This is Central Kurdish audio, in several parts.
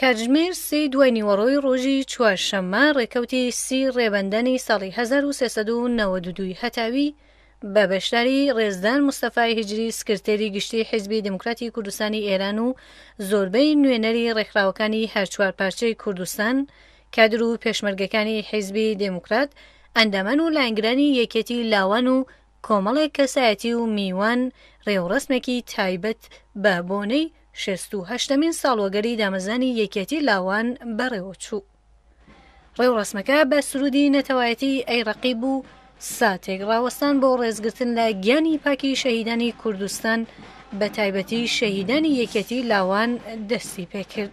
کاتژمێر سێی دوای نیوەڕۆی ڕۆژی چوارشەممە ڕێکەوتی سی ڕێبەندەنی ساڵی هەزار و سێ سەد و نەوەد و دوو ی هەتاوی بە بەشداری ڕێزدار مستەفای هیجری سکرتێری گشتی حیزبی دێموکراتی کوردستانی ئێران و زۆربەی نوێنەری ڕێکخراوەکانی هەر چوار پارچەی کوردستان کادر و پێشمەرگەکانی حیزبی دێموکرات ئەندامان و لایەنگرانی یەکێتی لاوان و کۆمەڵێک کەسایەتی و میوان ڕێوڕەسمێکی تایبەت بە بۆنەی شێست و هەشتەمین ساڵوەگەری دامەزانی یەکێتی لاوان بەڕێوە چوو. ڕێوڕەسمەکە بە سرودی نەتەوایەتی ئەی ڕەقیب و ساتێک ڕاوەستان بۆ ڕێزگرتن لە گیانی پاکی شەهیدانی کوردستان بە تایبەتی شەهیدانی یەکێتی لاوان دەستی پێکرد.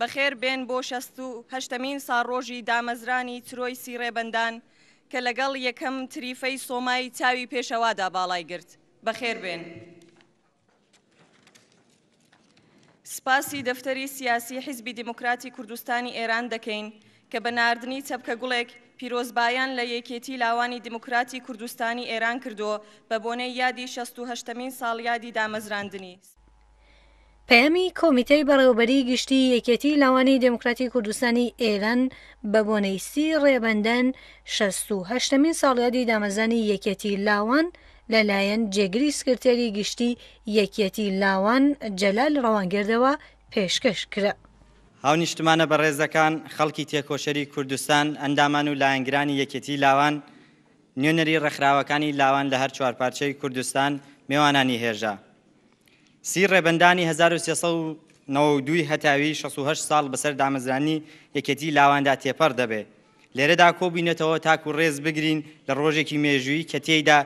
بەخێر بێن بۆ شەست و هەشتەمین ساڕۆژی دامەزرانی ترۆی سی ڕێبەندان کە لەگەڵ یەکەم تریفەی سۆمای چاوی پێشەوادا باڵای گرت. بەخێر بێن. سپاسی دەفتەری سیاسی حیزبی دێموکراتی کوردستانی ئێران دەکەین کە بە ناردنی چەپکە گوڵێک پیرۆزبایان لە یەکێتی لاوانی دێموکراتی کوردستانی ئێران کردو بە بۆنەی یادی شەست و هەشتەمین ساڵیادی دامەزراندنی پەیامی کۆمیتەی بەڕێوەبەریی گشتیی یەکێتیی لاوانی دێموکراتی کوردستانی ئێران بە بۆنەی سی ڕێبەندەن شەست و هەشتەمین ساڵیادی دامەزانی یەکێتی لاوان لە لایەن جێگری سکرتێری گشتیی یەکیەتی لاوان جەلال ڕەوانگردەوە پێشکەش کرا. هاونیشتمانە بەڕێزەکان، خەڵکی تێکۆشەری کوردستان، ئەندامان و لایەنگرانی یەکێتیی لاوان، نوێنەری ڕێکخراوەکانی لاوان لە هەر چوار پارچەی کوردستان، مێوانانی هێژا، سی ڕێبەندانی هەزار و سێ سەد و نەوە و دوو هەتاوی شەست و هەشت ساڵ بەسەر دامەزرانی یەکێتی لاواندا تێپەڕ دەبێ. لێرەدا کۆبووینەتەوە تاکو ڕێز بگرین لە ڕۆژێکی مێژوویی کە تێیدا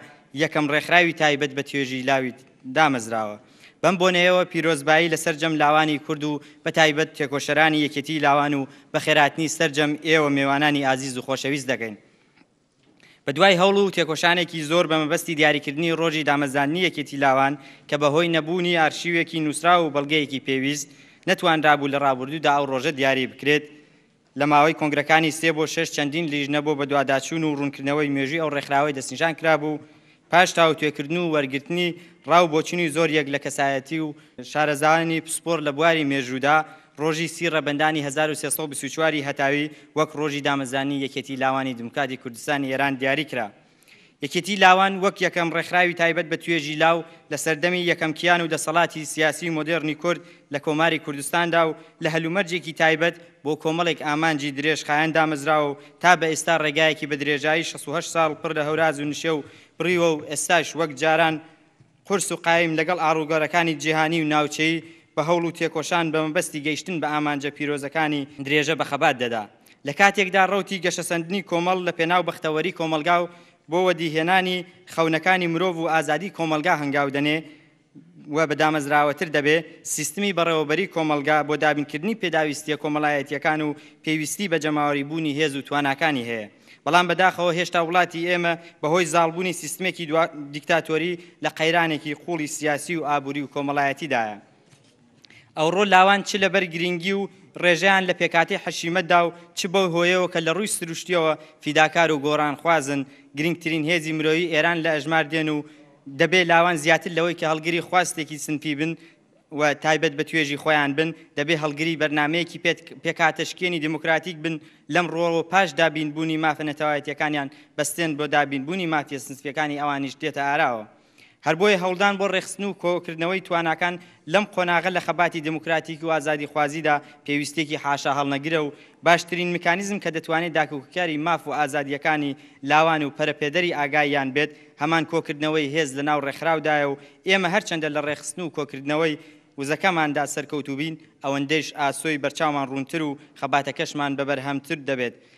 یەکەم ڕێکخراوی تایبەت بە توێژی لاوی دامەزراوە. بەم بۆنەیەوە پیرۆزبایی لە سەرجەم لاوانی کورد و بە تایبەت تێکۆشەرانی یەکێتی لاوان و بەخێرهاتنی سەرجەم ئێوە مێوانانی ئازیز و خۆشەویست دەکەین. بەدوای هەوڵ و تێکۆشانێکی زۆر بە مەبەستی دیاریکردنی ڕۆژی دامەزراندنی یەکێتی لاوان کە بە هۆی نەبوونی ئارشیوێکی نووسراو و بەڵگەیەکی پێویست نەتوانرابوو لە ڕابوردوودا ئەو ڕۆژە دیاری بکرێت لە ماوەی کۆنگرەکانی سێ بۆ شەش چەندین لیژنە بۆ بەدواداچوون و ڕوونکردنەوەی مێژووی ئەو ڕێکخراوەی دەستنیشان کرابوو پاش تاوتوێکردن و وەرگرتنی ڕا و بۆچونی زۆر یەک لە کەسایەتی و شارەزایانی پسپۆر لە بواری مێژوودا، ڕۆژی سی ڕەبەندانی هەزار و سێ سەد و بیست و چوار ی هەتاوی وەک ڕۆژی دامەزرانی یەکێتی لاوانی دیموکراتی کوردستانی ئێران دیاری کرا. یەکێتی لاوان وەک یەکەم ڕێکخراوی تایبەت بە توێژی لاو لە سەردەمی یەکەم کیان و دەسەڵاتی سیاسی مۆدێڕنی کورد لە کۆماری کوردستاندا و لە هەلومەرجێکی تایبەت بۆ کۆمەڵێک ئامانجی درێژخایەن دامەزراوە و تا بە ئێستا ڕێگایەکی بە درێژایی شەست و هەشت ساڵ پڕ لە هەوراز و نشێو بڕیوە و ئێستاش وەک جاران قورس و قایم لەگەڵ ئاڕوگۆرەکانی جیهانی و ناوچەیی بە هەوڵ و تێکۆشان بە مەبەستی گەیشتن بە ئامانجە پیرۆزەکانی درێژە بە خەبات دەدا. لە کاتێکدا ڕەوتی گەشەسەندنی کۆمەڵ لە پێناو بەختەوەری کۆمەڵگا و بۆ وەدیهێنانی خەونەکانی مرۆڤ و ئازادی کۆمەڵگا هەنگاو دەنێ، و بە دامەزراوەتر دەبێ، سیستمی بەڕێوەبەریی کۆمەڵگا بۆ دابینکردنی پێداویستییە کۆمەڵایەتییەکان و پێویستیی بە جەماوەری بوونی هێز و تواناکانی هەیە. بەڵام بەداخەوە هێشتا وڵاتی ئێمە بە هۆی زاڵبوونی سیستمێکی دیکتاتۆری لە قەیرانێکی قووڵی سیاسی و ئابووری و کۆمەڵایەتیدایە. ئەوڕۆ لاوان چ لەبەر گرینگی و ڕێژەیان لە پێکهاتەی حەشیمەتدا و چ بەو هۆیەوە کە لە ڕووی سروشتییەوە فیداکار و گۆڕانخوازن، گرینگترین هێزی مرۆیی ئێران لە ئەژمار دێن و دەبێ لاوان زیاتر لەوەی کە هەڵگری خواستێکی سنفی بن و تایبەت بە توێژی خۆیان بن، دەبێ هەڵگری بەرنامەیەکی پێکهاتەشکێنی دیموکراتیک بن، لەم ڕووەوە پاش دابینبوونی مافە نەتەوایەتییەکانیان بەستێن بۆ دابینبوونی مافیە سنفییەکانی ئەوانیش دێتە ئاراوە. هەر بۆیە هەوڵدان بۆ ڕێکخستن و کۆکردنەوەی تواناکان لەم قۆناغە لە خەباتی دێموکراتیک و ئازادیخوازیدا پێویستییەکی حاشاهەڵنەگرە و باشترین میکانیزم کە دەتوانێت داکۆکیکاری ماف و ئازادییەکانی لاوان و پەرەپێدەری ئاگاییان بێت هەمان کۆکردنەوەی هێز لەناو ڕێکخراودایە و ئێمە هەرچەندە لە ڕێکخستن و کۆکردنەوەی وزەکەماندا سەرکەوتوو بین ئەوەندەیش ئاسۆی بەرچاومان ڕوونتر و خەباتەکەشمان بەبەرهەمتر دەبێت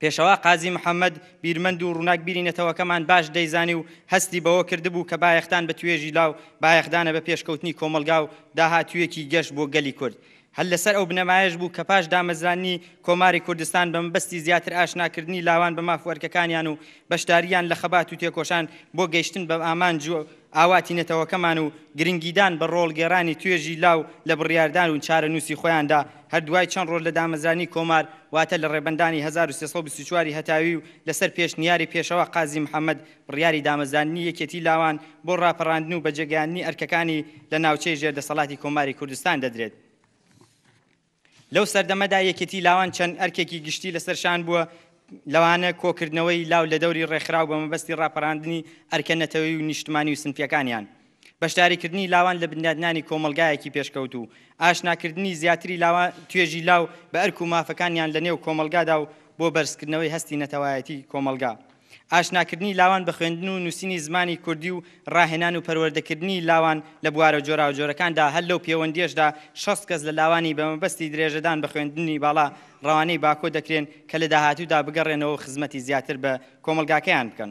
پێشەوا قازی محەممەد، بیرمەند و ڕووناکبیری نەتەوەکەمان باش دەیزانی و هەستی بەوە کردبوو کە بایەختان بە توێژی لاو بایەخدانە بە پێشکەوتنی کۆمەڵگا و داهاتوویەکی گەش بۆ گەلی کورد. هەر لەسەر ئەو بنەمایەش بوو کە پاش دامەزراندنی کۆماری کوردستان بە مەبەستی زیاتر ئاشناکردنی لاوان بە ماف و ئەرکەکانیان و بەشدارییان لە خەبات و تێکۆشان بۆ گەیشتن بە ئامانج و ئاواتی نەتەوەکەمان و گرنگیدان بە ڕۆڵگێڕانی توێژی لاو لە بڕیاردان و چارەنووسی خۆیاندا هەر دوای چەند ڕۆژ لە دامەزرانی کۆمار، واتە لە ڕێبەندانی هەزار و سێ سەد و بیست و چوار ی هەتاوی و لەسەر پێشنیاری پێشەوا قازی محەمەد، بڕیاری دامەزراندنی یەکێتی لاوان بۆ ڕاپەڕاندن و بەجێگەیاندنی ئەرکەکانی لە ناوچەی ژێر دەسەڵاتی کۆماری کوردستان دەدرێت. لەو سەردەمەدا یەکێتی لاوان چەند ئەرکێکی گشتی لەسەر شان بووە، لەوانە کۆکردنەوەی لاو لە دەوری ڕێکخراو بە مەبەستی ڕاپەڕاندنی ئەرکە نەتەوەیی و نیشتمانی و سنفیەکانیان. بەشداریکردنی لاوان لە بنیادنانی کۆمەڵگایەکی پێشکەوتوو، ئاشناکردنی زیاتری لاوان توێژی لاو بە ئەرک و مافەکانیان لە نێو کۆمەڵگادا و بۆ بەرزکردنەوەی هەستی نەتەوایەتی کۆمەڵگا. ئاشناکردنی لاوان بە خوێندن و نووسینی زمانی کوردی و ڕاهێنان و پەروەردەکردنی لاوان لە بوارە جۆراوجۆرەکاندا هەر لەو پێوەندییەشدا شەست کەس لە لاوانی بە مەبەستی درێژەدان بە خوێندنی باڵا ڕەوانەی باکۆ دەکرێن کە لە داهاتوودا بگەڕێنەوە و خزمەتی زیاتر بە کۆمەڵگاکەیان بکەن.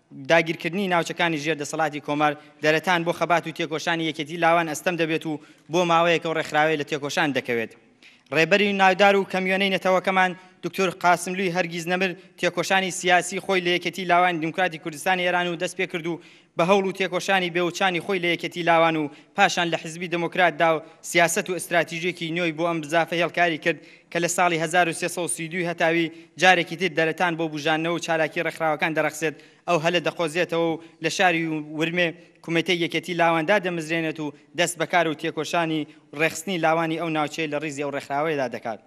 داگیرکردنی ناوچەکانی ژێر دەسەڵاتی کۆمار، دەرەتان بۆ خەبات و تێکۆشانی یەکێتی لاوان ئەستەم دەبێت و بۆ ماوەیەکەو ڕێکخراوەی لە تێکۆشان دەکەوێت. ڕێبەری ناودار و کەمیۆنەی نەتەوەکەمان دوکتور قاسملوی هەرگیز نەمر تێکۆشانی سیاسی خۆی لە یەکێتی لاوانی دیموکراتی کوردستانی ئێران و دەست پێکرد و بە هەوڵ و تێکۆشانی بێوچانی خۆی لە یەکێتی لاوان و پاشان لە حیزبی دێموکراتدا سیاسەت و ئستراتیژێکی نوێی بۆ ئەم بزافە هێڵکاری کرد کە لە ساڵی هەزار و سێ سەد و سی و دوو هەتاوی جارێکی تر دەرەتان بۆ بووژاندنەوە و چالاکی ڕێکخراوەکان دەڕەخسێت، ئەو هەلە دەقۆزێتەوە و لە شاری ورمێ کومێتەی یەکێتی لاوان دادەمزرێنێت و دەست بەکار و تێکۆشانی ڕێخستنی لاوانی ئەو ناوچەیە لە ڕیزی ئەو ڕێکخراوەیەدا دەکات.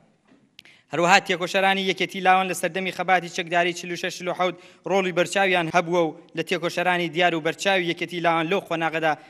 هەروەها تێکۆشەرانی یەکێتی لاوان لە سەردەمی خەباتی چەکداری چل و شەش چل و حەوت ڕۆڵی بەرچاویان هەبووە و لە تێکۆشەرانی دیار و بەرچاوی یەکێتی لاوان لەو قۆناغەدا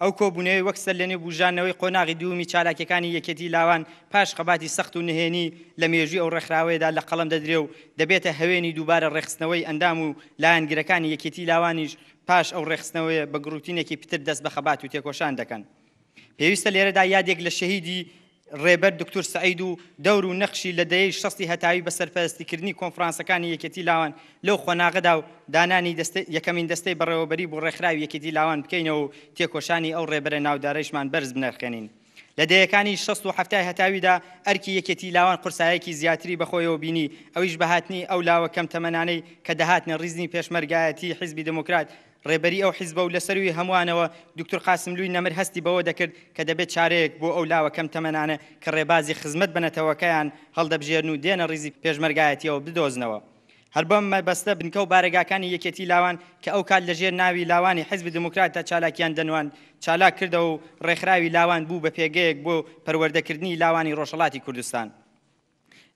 ئەو کۆبوونەوەی وەک سەر لەنێو بووژانەوەی قۆناغی دوومی چالاکییەکانی یەکێتیی لاوان پاش خەباتی سەخت و نهێنی لە مێژووی ئەو ڕێکخراوەیەدا لە قەڵەم دەدرێ و دەبێتە هەوێنی دووبارە ڕێکخستنەوەی ئەندام و لایەنگرەکانی یەکێتیی لاوانیش پاش ئەو ڕێکخستنەوەیە بە گڕوتینێکی پتر دەست بە خەبات و تێکۆشان دەکەن. پێویستە لێرەدا یادێک لە شەهیدی ڕێبەر دوکتور سەعید و دەور و نەخشی لە دەیەی شەستی هەتاوی بە سەرپەرەستیکردنی کۆنفرانسەکانی یەکێتی لاوان لەو قۆناغەدا و دانانی دەستەی یەکەمین دەستەی بەڕێوەبەری بۆ ڕێکخراوی یەکێتی لاوان بکەینەوە و تێکۆشانی ئەو ڕێبەرە ناودارەیشمان بەرز بنرخێنین. لە دەیەکانی شەست و حەفتای هەتاویدا ئەرکی یەکێتی لاوان قورسایەکی زیاتری بەخۆیەوە بینی ئەویش بە هاتنی ئەو لاوە کەم تەمەنانەی کە دەهاتنە ڕیزنی پێشمەرگایەتی حیزبی دێموکرات ڕێبەری ئەو حیزبە و لە سەروی هەموانەوە دوکتور قاسملووی نەمر هەستی بەوە دەکرد کە دەبێت چارەیەک بۆ ئەو لاوە کەم تەمەنانە کە ڕێبازی خزمەت بە نەتەوەکەیان هەڵدەبژێرن و دێنە ڕیزی پێشمەرگایەتیەوە بدۆزنەوە. هەر بەم مەبەستە بنکە و بارەگاکانی یەکێتی لاوان کە ئەو کات لە ژێر ناوی لاوانی حیزب دموکراتدا چالاکیان دەنواند چالاک کردەوە و ڕێکخراوی لاوان بوو بە پێگەیەک بۆ پەروەردەکردنی لاوانی ڕۆژهەڵاتی کوردستان.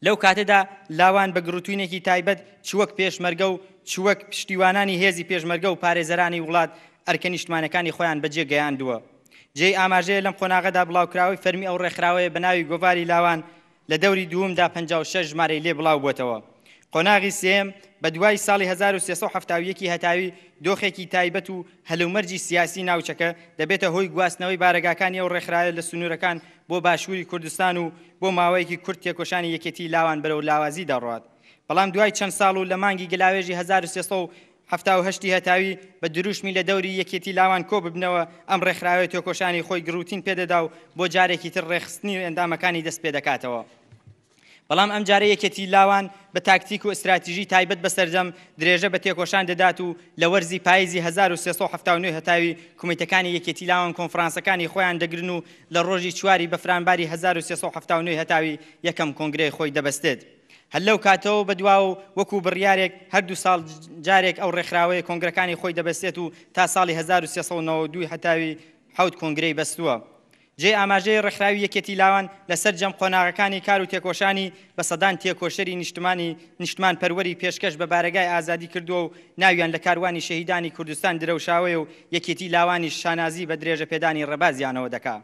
لەو کاتەدا لاوان بە گڕوتوینێکی تایبەت چ وەک پێشمەرگە و چ وەک پشتیوانانی هێزی پێشمەرگە و پارێزەرانی وڵات ئەرکە نیشتمانەکانی خۆیان بەجێ گەیاندووە. جێی ئاماژەیە لەم قۆناغەدا بڵاوکراوەی فەرمی ئەو ڕێکخراوەیە بە ناوی گۆڤاری لاوان لە دەوری دوومدا پەنجا و شەش ژمارەی لێ بڵاو بۆتەوە. قۆناغی سێیەم بە دوای ساڵی هەزار و سێ سەد و حەفتا و یەک ی هەتاوی دۆخێکی تایبەت و هەلومەرجی سیاسی ناوچەکە دەبێتە هۆی گواستنەوەی بارەگاکانی ئەو ڕێکخراوە لە سنوورەکان بۆ باشووری کوردستان و بۆ ماوەیەکی کورت تێکۆشانی یەکێتیی لاوان بەرەو لاوازی دەڕوات، بەڵام دوای چەند ساڵ و لە مانگی گلاوێژی هەزار و سێ سەد و حەفتا و هەشت ی هەتاوی بە درووشمی لە دەوری یەکێتی لاوان کۆ ببنەوە ئەم ڕێکخراوەیە تێکۆشانی خۆی گڕوتین پێ دەدا و بۆ جارێکی تر ڕێکخستنی ئەندامەکانی دەست پێ دەکاتەوە. بەڵام ئەمجارە یەکێتی لاوان بە تاکتیک و ئستراتیژی تایبەت بە سەرجەم درێژە بە تێکۆشان دەدات و لە وەرزی پایزی هەزار و سێ سەد و حەفتا و نۆ هەتاوی کومیتەکانی یەکێتی لاوان کۆنفرانسەکانی خۆیان دەگرن و لە ڕۆژی چواری بەفرانباری هەزار و سێ سەد و حەفتا و نۆ هەتاوی یەکەم کۆنگرەی خۆی دەبەستێت. هەر لەو کاتەوە بە دوا و وەکو بڕیارێک هەر دوو ساڵ جارێک ئەو ڕێکخراوەیە کۆنگرەکانی خۆی دەبەستێت و تا ساڵی هەزار و سێ سەد و نەوەد و دوو هەتاوی حەوت کۆنگرەی بەستووە جێی ئاماژەیە ڕێکخراوی یەکێتی لاوان لە سەرجەم قۆناغەکانی کار و تێکۆشانی بە سەدان تێکۆشەری نیشتمانی نیشتمانپەروەری پێشکەش بە بارەگای ئازادی کردووە و ناویان لە کاروانی شەهیدانی کوردستان درەوشاوەیە و یەکێتی لاوانیش شانازی بە درێژەپێدانی ڕێبازیانەوە دەکا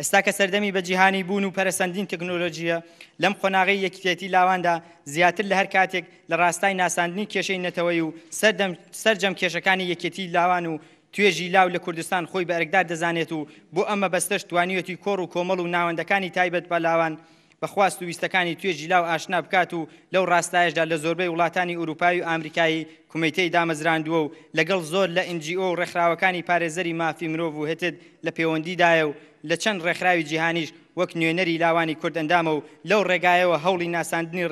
ئێستا کە سەردەمی بەجیهانی بوون و پەرەسەندین تەکنۆلۆژییە لەم قۆناغەی یەکێتی لاواندا زیاتر لە هەر کاتێک لە ڕاستای ناساندنی کێشەی نەتەوەیی و سەردەم سەرجەم کێشەکانی یەکێتی لاوان و توێژی لاو لە کوردستان خۆی بە ئەرکدار دەزانێت و بۆ ئەم مەبەستەش توانیویەتی کۆڕ و کۆمەڵ و ناوەندەکانی تایبەت بە لاوان بە خواست و ویستەکانی توێژی لاو ئاشنا بکات و لەو ڕاستایەشدا لە زۆربەی وڵاتانی ئورووپایی و ئامریکایی کومیتەی دامەزراندووە و لەگەڵ زۆر لە NGO و ڕێکخراوەکانی پارێزەری مافی مرۆڤ و هتد لە پێوەندیدایە و لە چەند ڕێکخراوی جیهانیش وەک نوێنەری لاوانی کورد ئەندامە و لەو ڕێگایەوە هەوڵی ناساندنی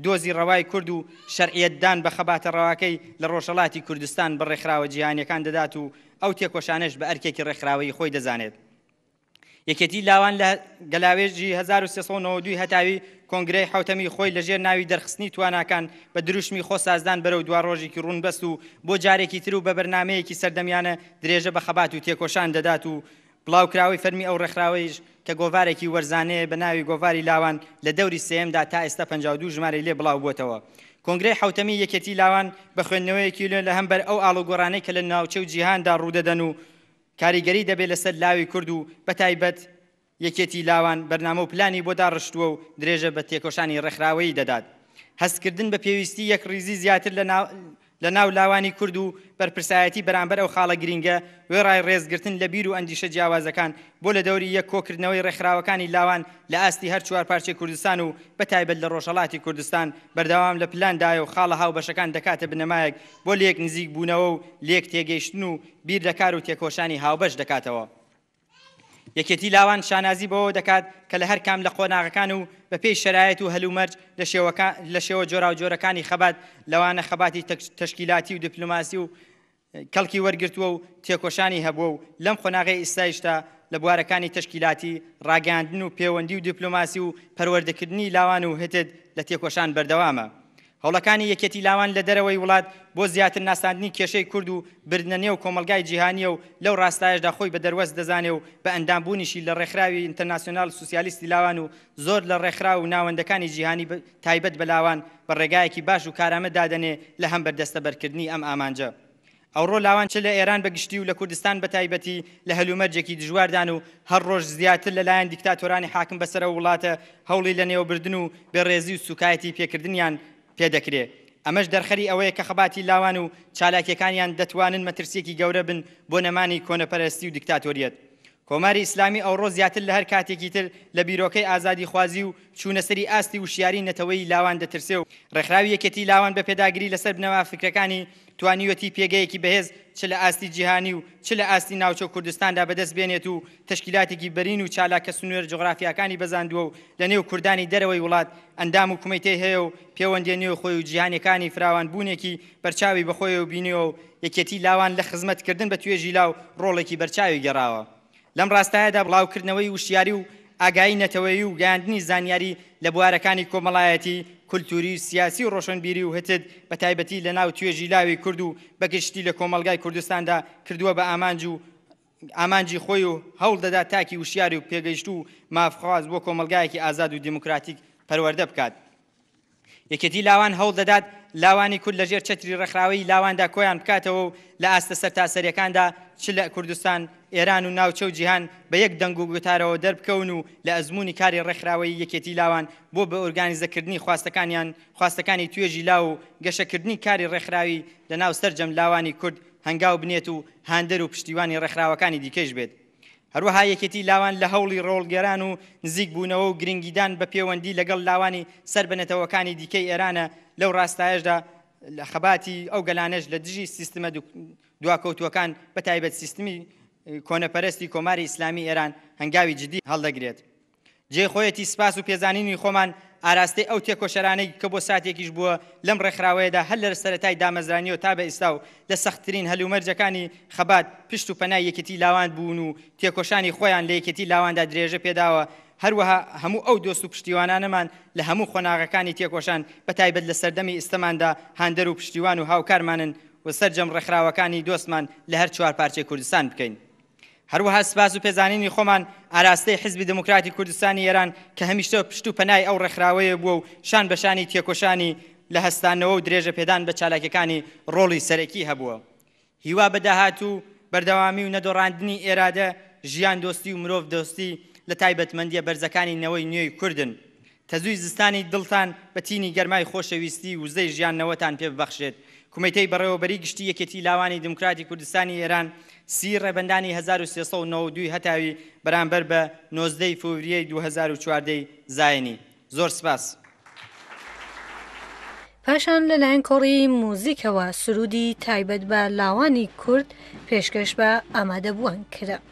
دۆزی ڕەوای کورد و شەرعیەتدان بە خەباتە ڕەواکەی لە ڕۆژهەڵاتی کوردستان بە ڕێکخراوە جیهانیەکان دەدات و ئەو تێکۆشانەش بە ئەرکێکی ڕێکخراوەیی خۆی دەزانێت. یەکێتی لاوان لە گەلاوێژی هەزار و سێ سەد و نەوەد و دوو هەتاوی کۆنگرەی حەوتەمی خۆی لە ژێر ناوی دەرخستنی تواناکان بە دروشمی خۆ سازدان بەرەو دواڕۆژیکی ڕوونبەست و بۆ جارێکی تر و بە بەرنامەیەکی سەردەمیانە درێژە بە خەبات و تێکۆشان دەدات و بڵاوکراوەی فەرمی ئەو ڕێکخراوەیش کە گۆڤارێکی وەرزانەیە بە ناوی گۆڤاری لاوان لە دەوری سێیەمدا تا ئێستا پەنجا و دوو ژمارەی لێ بڵاو بۆتەوە. کۆنگرەی حەوتەمی یەکێتی لاوان بە خوێندنەوەیەکی نوێ لە هەمبەر ئەو ئاڵوگۆرانەی کە لە ناوچە و جیهاندا ڕوودەدەن و کاریگەری دەبێ لەسەر لاوی کورد و بە تایبەت یەکێتی لاوان بەرنامە و پلانی بۆ داڕشتووە و درێژە بە تێکۆشانی ڕێکخراوەیی دەدات هەستکردن بە پێویستی یەکڕیزی زیاتر لە لە ناو لاوانی کورد و بەرپرسایەتی بەرامبەر ئەو خاڵە گرینگە، وێڕای ڕێز گرتن لە بیر و ئەندیشە جیاوازەکان، بۆ لە دەوری یەک کۆ کردنەوەی ڕێکخراوەکانی لاوان لە ئاستی هەر چوار پارچەی کوردستان و بە تایبەت لە ڕۆژهەڵاتی کوردستان بەردەوام لە پلان دایە و خاڵە هاوبەشەکان دەکاتە بنەمایەک بۆ لێک نزیک بوونەوە و لێک تێگەیشتن و بیر لە کار و تێکۆشانی هاوبەش دەکاتەوە. یەکێتی لاوان شانازی بەوە دەکات کە لە هەر کام لە قۆناغەکان و بە پێی شەرایەت و هەلومەرج لە شێوەکا لە شێوە جۆراوجۆرەکانی خەبات لەوانە خەباتی تەک تەشکیلاتی و دپلۆماسی و کەڵکی وەرگرتووە و تێکۆشانی هەبووە و لەم قۆناغەی ئیستایشدا لە بوارەکانی تەشکیلاتی، ڕاگەیاندن و پێوەندی و دپلۆماسی و پەروەردەکردنی لاوان و هتد لە تێکۆشان بەردەوامە. هەوڵەکانی یەکێتی لاوان لە دەرەوەی وڵات بۆ زیاتر ناساندنی کێشەی کورد و بردنە نێو کۆمەڵگای جیهانییە و لەو ڕاستایەشدا خۆی بە دەروەست دەزانێ و بە ئەندام بوونیشی لە ڕێکخراوی ئینتەرناسیۆنال سوسیالیستی لاوان و زۆر لە ڕێکخراو و ناوەندەکانی جیهانی تایبەت بە لاوان بە ڕێگایەکی باش و کارامە دادەنێ لە هەمبەر دەستەبەرکردنی ئەم ئامانجە ئەوڕۆ لاوان چ لە ئێران بە گشتی و لە کوردستان بە تایبەتی لە هەلومەرجێکی دژواردان و هەر ڕۆژ زیاتر لە لایەن دیکتاتۆرانی حاکم بە سەر ئەو وڵاتە هەوڵی لە نێوبردن و بێ ڕێزی و سوکایەتی پێکردنیان پێ دەکرێ ئەمەش دەرخەری ئەوەیە کە خەباتی لاوان و چالاکیەکانیان دەتوانن مەترسیەکی گەورە بن بۆ نەمانی کۆنەپەرەستی و دیکتاتۆریەت کۆماری ئیسلامی ئەوڕۆ زیاتر لە هەر کاتێکی تر لە بیرۆکەی ئازادیخوازی و چوونە سەری ئاستی وشیاریی نەتەوەیی لاوان دەترسێ و ڕێکخراوی یەکێتیی لاوان بە پێداگری لەسەر بنەما فکرەکانی توانیویەتی پێگەیەکی بەهێز چ لە ئاستی جیهانی و چ لە ئاستی ناوچە و کوردستاندا بەدەست بێنێت و تەشکیلاتێکی بەرین و چالاک کە سنوورە جوغرافیاکانی بەزاندووە و لە نێو کوردانی دەرەوەی وڵات ئەندام و کومیتەی هەیە و پێوەندییە نێو خۆی و جیهانییەکانی فراوانبوونێکی بەرچاوی بە خۆیەوە بینیوە و یەکێتی لاوان لە خزمەت کردن بە توێژی لاو ڕۆڵێکی بەرچاوی گێڕاوە لەم ڕاستایەدا، بڵاو کردنەوەی وشیاری و ئاگایی نەتەوەیی و گەیاندنی زانیاری لە بوارەکانی کۆمەڵایەتی، کولتووری، سیاسی و ڕۆشنبیری و هتد بە تایبەتی لە ناو توێژی لاوی کورد و بە گشتی لە کۆمەڵگای کوردستاندا کردووە بە ئامانج و ئامانجی خۆی و هەوڵ دەدات تاکی وشیار و پێگەیشتوو و مافخواز بۆ کۆمەڵگایەکی ئازاد و دیموکراتیک پەروەردە بکات. یەکێتی لاوان هەوڵ دەدات لاوانی کورد لەژێر چەتری ڕێکخراوەیی لاواندا کۆیان بکاتەوە و لە ئاستە سەرتاسەریەکاندا چ لە کوردستان، ئێران و ناوچە و جیهان بە یەک دەنگ و گوتارەوە دەربکەون و لە ئەزموونی کاری ڕێکخراوەیی یەکێتی لاوان بۆ بە ئۆرگانیزەکردنی خواستەکانیان خواستەکانی توێژی لاو و گەشەکردنی کاری ڕێکخراوی لەناو سەرجەم لاوانی کورد هەنگاو بنێت و هاندەر و پشتیوانی ڕێکخراوەکانی دیکەیش بێت. هەروەها یەکێتی لاوان لە هەوڵی ڕۆڵگێران و نزیک بوونەوە و گرنگیدان بە پێوەندی لەگەڵ لاوانی سەر بە نەتەوەکانی دیکەی ئێرانە لەو ڕاستایەشدا لە خەباتی ئەو گەلانەش لە دژی سیستمە دواکەوتووەکان بە تایبەت سیستمی کۆنەپەرستی کۆماری ئیسلامی ئێران هەنگاوی جدی هەڵدەگرێت. جێی خۆیەتی سپاس و پێزانینی خۆمان ئاراستەی ئەو تێکۆشەرانەی کە بۆ ساتێکیش بووە لەم ڕێکخراوەیەدا هەر لە سەرەتای دامەزرانیەوە تا بە ئیستا و لە سەختترین هەلومەرجەکانی خەبات پشت و پەنای یەکێتی لاوان بوون و تێکۆشانی خۆیان لە یەکێتی لاواندا درێژە پێداوە هەروەها هەموو ئەو دۆست و پشتیوانانەمان لە هەموو قۆناغەکانی تێکۆشان بە تایبەت لە سەردەمی ئیستەماندا هاندەر و پشتیوان و هاوکارمانن و سەرجەم ڕێکخراوەکانی دۆستمان لە هەر چوار پارچەی کوردستان بکەین. هەروەها سپاس و پێزانینی خۆمان ئاراستەی حیزبی دێموکراتی کوردستانی ئێران کە هەمیشە پشت و پەنای ئەو ڕێکخراوەیە بووە و شان بە شانی تێکۆشانی لە هەستانەوە و درێژە پێدان بە چالاکیەکانی ڕۆڵی سەرەکی هەبووە. هیوا بە داهاتوو، بەردەوامی و نەدۆڕاندنی ئێرادە ژیان دۆستی و مرۆڤ دۆستی لە تایبەتمەندیە بەرزەکانی نەوەی نوێی کوردن. تەزووی زستانی دڵتان بە تینی گەرمای خۆشەویستی وزەی ژیان نەوەتان پێ ببەخشێت. کومیتەی بەڕێوەبەری گشتی یەکێتی لاوانی دیموکراتی کوردستانی ئێران سی ڕێبەندانی هەزار و سێ سەد و نەوەد و دوو هەتاوی بەرامبەر بە نۆزدە ی فوریەی دوو هەزار و چواردە ی زاینی. زۆر سپاس. پاشان لە لایەن کۆڕی موزیکەوە سروودی تایبەت بە لاوانی کورد پێشکەش بە ئامادەبووان کرا.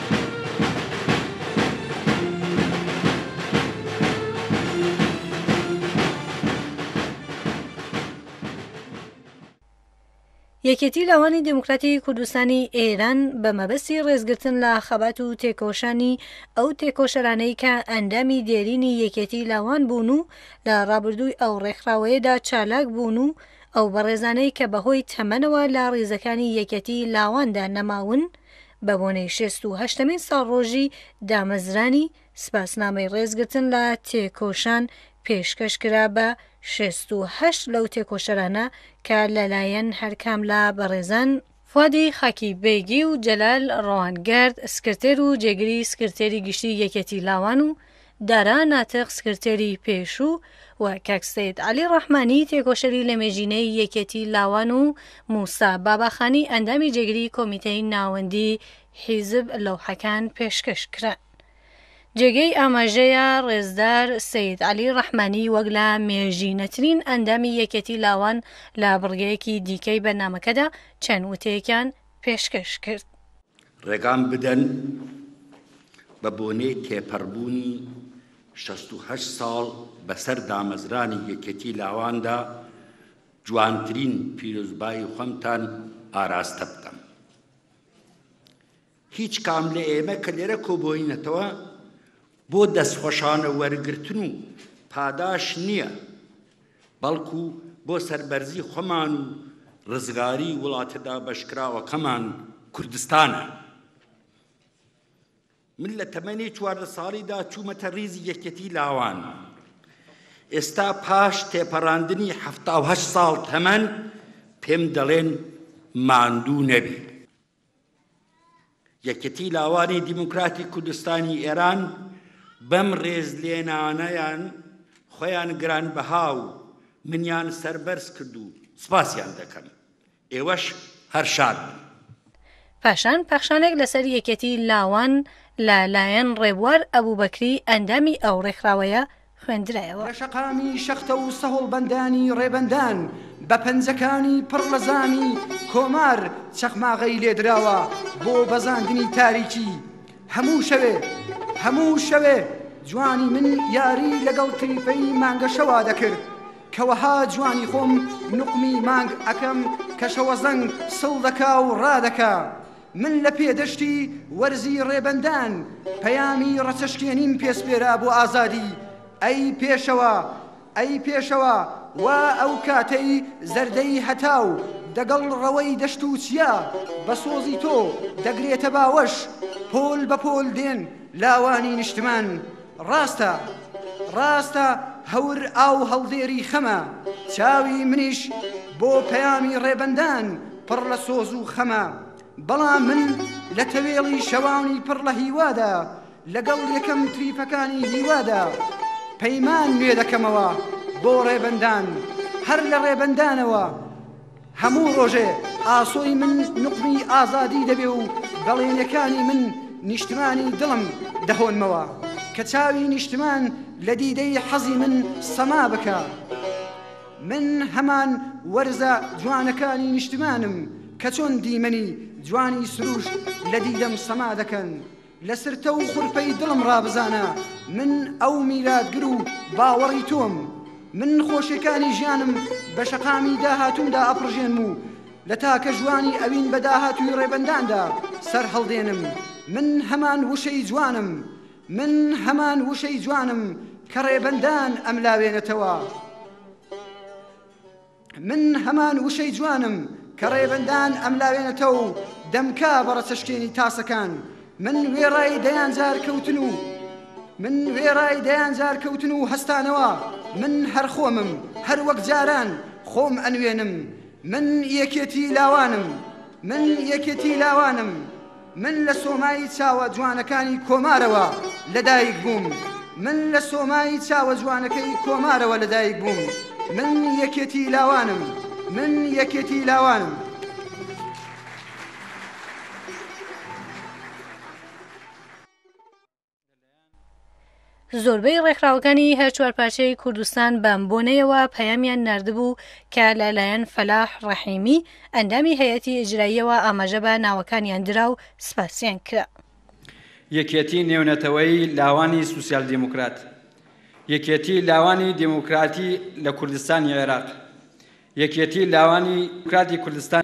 یەکێتی لاوانی دموکراتی کوردستانی ئێران بە مەبەستی ڕێزگرتن لە خەبات و تێکۆشانی ئەو تێکۆشەرانەی کە ئەندامی دێرینی یەکێتی لاوان بوون و لە ڕابردووی ئەو ڕێکخراوەیەدا چالاک بوون و ئەو بەڕێزانەی کە بەهۆی تەمەنەوە لە ڕیزەکانی یەکێتی لاواندا نەماون بە بۆنەی شێست و هەشتەمین ساڵڕۆژی دامەزرانی، سپاسنامەی ڕێزگرتن لە تێکۆشان پێشکەش کرا بە شێست و هەشت لەو تێکۆشەرانە کە لەلایەن هەرکام لە بەڕێزان، فوادی خاکی بەیگی و جەلال ڕەوانگەرد، سکرتێر و جێگری سکرتێری گشتی یەکێتی لاوان و، دارا ناتق سکرتێری پێشوو و کاک سەید عەلی ڕەحمانی تێکۆشەری لەمێژینەی یەکێتی لاوان و موسا باباخانی ئەندامی جێگری کۆمیتەی ناوەندی حیزب لەوحەکان پێشکەش کران. جێگەی ئاماژەیە ڕێزدار سەید عەلی ڕەحمانی وەک لە مێژینەترین ئەندامی یەکێتی لاوان لە بڕگەیەکی دیکەی بەرنامەکەدا چەند وتەیەکیان پێشکەش کرد. ڕێگام بدەن بە بۆنەی تێپەڕبوونی شەست و هەشت ساڵ بەسەر دامەزرانی یەکێتی لاواندا جوانترین پیرۆزبایی خۆمتان ئاراستە بکەم هیچ کام لە ئێمە کە لێرە کۆبۆینەتەوە بۆ دەستخۆشانە وەرگرتن و پاداش نییە بەڵکو بۆ سەربەرزی خۆمان و ڕزگاری وڵاتە دابەشکراوەکەمان کوردستانە. من لە تەمەنی چواردە ساڵیدا چوومەتە ڕیزی یەکێتی لاوان. ئێستا پاش تێپەڕاندنی حەفتا و هەشت ساڵ تەمەن پێم دەڵێن ماندوو نەبی. یەکێتی لاوانی دیموکراتی کوردستانی ئێران بەم ڕێزلێنانەیان خۆیان گرانبەها و منیان سەربەرز کرد و سوپاسیان دەکەم ئێوەش هەر شاد بن. پاشان پەخشانێک لەسەر یەکێتی لاوان لە لایەن ڕێبوار ئەبوبەکری ئەندامی ئەو ڕێکخراوەیە، خوێندرایەوە. لە شەقامی شەختە و سەهۆڵبەندانی ڕێبەندان بە پەنجەکانی پڕ لە زامی کۆمار چەخماغەی لێ دراوە بۆ بەزاندنی تاریکی. هەموو شەوێ هەموو شەوێ جوانی من یاری لەگەڵ تریفەی مانگە شەوا دەکرد کە وەها جوانی خۆم نوقمی مانگ ئەکەم کە شەوەزەنگ سڵ دەکا و ڕادەکا. من لە پێدەشتی وەرزی ڕێبەندان پەیامی ڕەچەشکێنیم پێسپێرا بۆ ئازادی، ئەی پێشەوا، ئەی پێشەوا، وا ئەو کاتەی زەردەی هەتاو دەگەڵ ڕەوەی دەشت و چیا بە سۆزی تۆ دەگرێتە باوەش، پۆل بە پۆل دێن لاوانی نیشتمان. ڕاستە ڕاستە هەور ئاو هەڵدێری خەمە چاوی منیش بۆ پەیامی ڕێبەندان پڕ لە سۆز و خەمە بەڵام من لە تەوێڵی شەوانی پڕ لە هیوادا لەگەڵ یەکەم تریپەکانی هیوادا پەیمان نوێ دەکەمەوە بۆ ڕێبەندان هەر لە ڕێبەندانەوە هەموو ڕۆژێ ئاسۆی من نوقمی ئازادی دەبێ و بەڵێنەکانی من نیشتمانی دڵم دەهۆنمەوە کە چاوی نیشتمان لە دیدەی حەزی من سەما بکا من هەمان وەرزە جوانەکانی نیشتمانم کە چۆن دیمەنی جوانی سروش لە دیدەم سەما دەکەن لە سرتە و خورپەی دڵم ڕابزانە من ئەو میراتگر و باوەڕی تۆم من خۆشیەکانی ژیانم بە شەقامی داهاتومدا ئەپڕژێنم و لە تاکە جوانی ئەوین بە داهاتوی ڕێبەنداندا سەر هەڵدێنم من هەمان وشەی جوانم من هەمان وشەی جوانم کە ڕێبەندان ئەملاوێنێتەوە. من هەمان وشەی جوانم کە ڕێبەندان ئەملاوێنەتە و دەمکا بە ڕەچەشکێنی تاسەکان من وێڕای دەیان جار کەوتن و من وێڕای دەیان جار کەوتن و هەستانەوە من هەر خۆمم هەر وەک جاران خۆم ئەنوێنم من یەکێتی لاوانم من یەکێتی لاوانم. من لە سۆمای چاوە جوانەکانی کۆمارەوە لە دایک بووم من لە سۆمای چاوە جوانەکەی کۆمارەوە لە دایک بووم من یەکێتی لاوانم من یەکێتی لاوانم زۆربەی ڕێکخراوەکانی هەر چوار پارچەی کوردستان بەم بۆنەیەوە پەیامیان نردبوو کە لەلایەن فەلاح ڕەحیمی ئەندامی هەیەتی ئجراییەوە ئاماژە بە ناوەکانیان درا و سپاسیان کرا. یەکێتی نێونەتەوەیی لاوانی سوسیال دیموکرات، یەکێتی لاوانی دیموکراتی لە کوردستانی عێراق، یەکێتی لاوانی دیموکراتی کوردستان،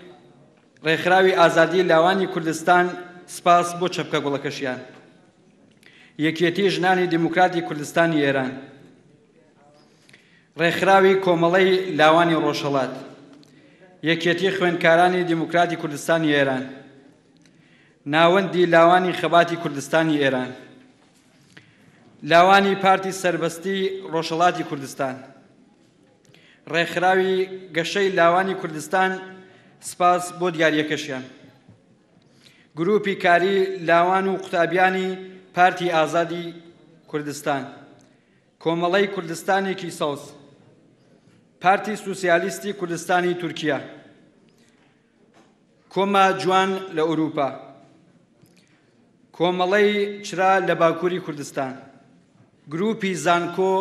ڕێکخراوی ئازادی لاوانی کوردستان سپاس بۆ چەپکە گوڵەکەشیان یەکیەتی ژنانی دیموکراتی کوردستانی ئێران ڕێکخراوی کۆمەڵەی لاوانی ڕۆژهەڵات یەکیەتی خوێنکارانی دیموکراتی کوردستانی ئێران ناوەندی لاوانی خەباتی کوردستانی ئێران لاوانی پارتی سربستی ڕۆژهڵاتی کوردستان ڕێکخراوی گەشەی لاوانی کوردستان سپاس بۆ دیارییەکەشیان. گرووپی کاری لاوان و قوتابیانی پارتی ئازادی کوردستان، کۆمەڵەی کوردستانێکی سەوز، پارتی سوسیالیستی کوردستانی تورکیە، کۆما جوان لە ئورووپا. کۆمەڵەی چرا لە باکووری کوردستان. گروپی زانکۆ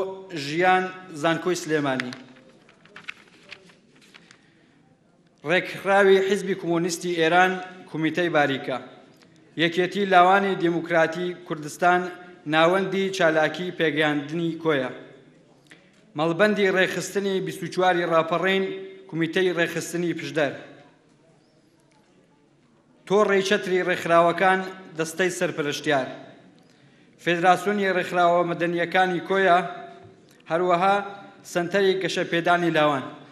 ژیان زانکۆی سلێمانی. ڕێکخراوی حیزبی کۆمۆنیستی ئێران کومیتەی باریکە. یەکێتی لاوانی دیموکراتی کوردستان ناوەندی چالاکی پێگەیاندنی کۆیە. مەڵبەندی ڕێکخستنی بیست و چوار ی ڕاپەڕین کومیتەی ڕێکخستنی پشدەر تۆڕی چەتری ڕێکخراوەکان دەستەی سەرپەرشتیار فێدراسیۆنی ڕێکخراوە مەدەنیەکانی کۆیە هەروەها سەنتەری گەشەپێدانی لاوان